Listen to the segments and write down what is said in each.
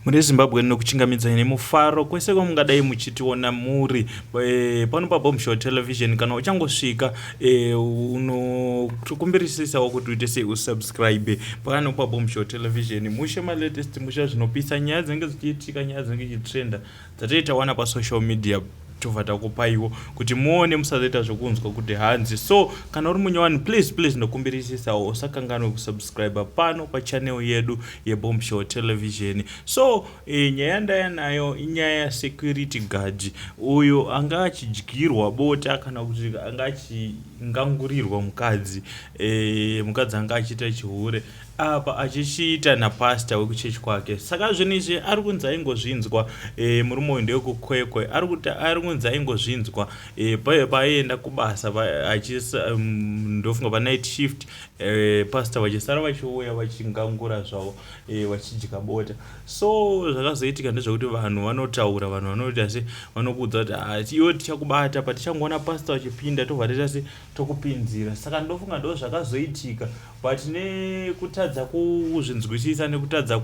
Muri Zimbabwe ndinokuchingamidzai nemufaro kwese kwamungadai muchitiona muri eh, pano paBombshell Television. Kana uchangosvika eh, unokumbirisisawo kuti uite sei usubscribe pano paBombshell Television. Mushe malatest musha zvinopisa nyaya dzinenge dzichiitika, nyaya dzinenge dzichitrenda Dzatei tawana pa social media tobva takupaiwo kuti muone musazoita zvekunzwa kuti hanzi so kana uri munyowani please please ndokumbirisisawo usakanganwe kusubscribe pano pachanel yedu yebomb show television so e, nyaya ndaya nayo inyaya yasecurity guard uyo anga achidyirwa bota kana kuti anga achingangurirwa mukadzi e, mukadzi anga achiita chihure apa achichiita napastor wekuchechi kwake saka zvinhu izvi ari kunzi aingozvinzwa e, murume uyu ndewekukwekwe ari kuti ari kunzi aingozvinzwa e, eh, paye paaienda kubasa mm, ndofunga panight shift e, pastor vachisara vachiuya vachingangura zvavo e, vachidya bota so zvakazoitika ndezvekuti vanhu vanotaura vanhu vanoita se vanokuudza kuti ah, iwe tichakubata patichangoona pastor vachipinda tobva toita se tokupinzira saka ndofunga ndo zvakazoitika but nekutadza kuzvinzwisisa nekutadza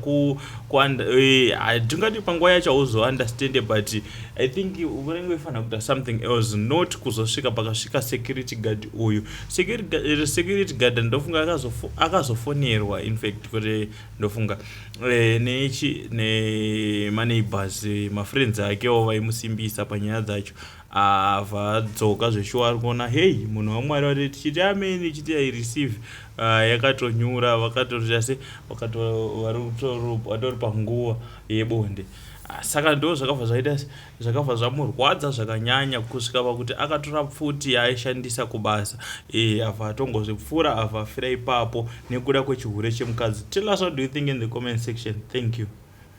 eh, hatingati panguva yacho hauzounderstande but i think unenge uifanira kuita something else not kuzosvika pakasvika security guard uyu security guard eh, ndofunga akazofonerwa infact kuti ndofunga eh, nechi nemaneighbors mafriends akewo vaimusimbisa panyaya dzacho Ava dzoka zveshuwa ari kuona hey munhu wamwari vari tichiti amen ichiti i receive uh, yakatonyura vakatoita se vatori panguva yebonde ah, saka ndo zvakabva zvaita zvakabva zvamurwadza zvakanyanya kusvika pakuti akatora pfuti yaaishandisa kubasa e, ava atongozvipfuura ava afira ipapo nekuda kwechihure chemukadzi tell us what do you think in the comment section thank you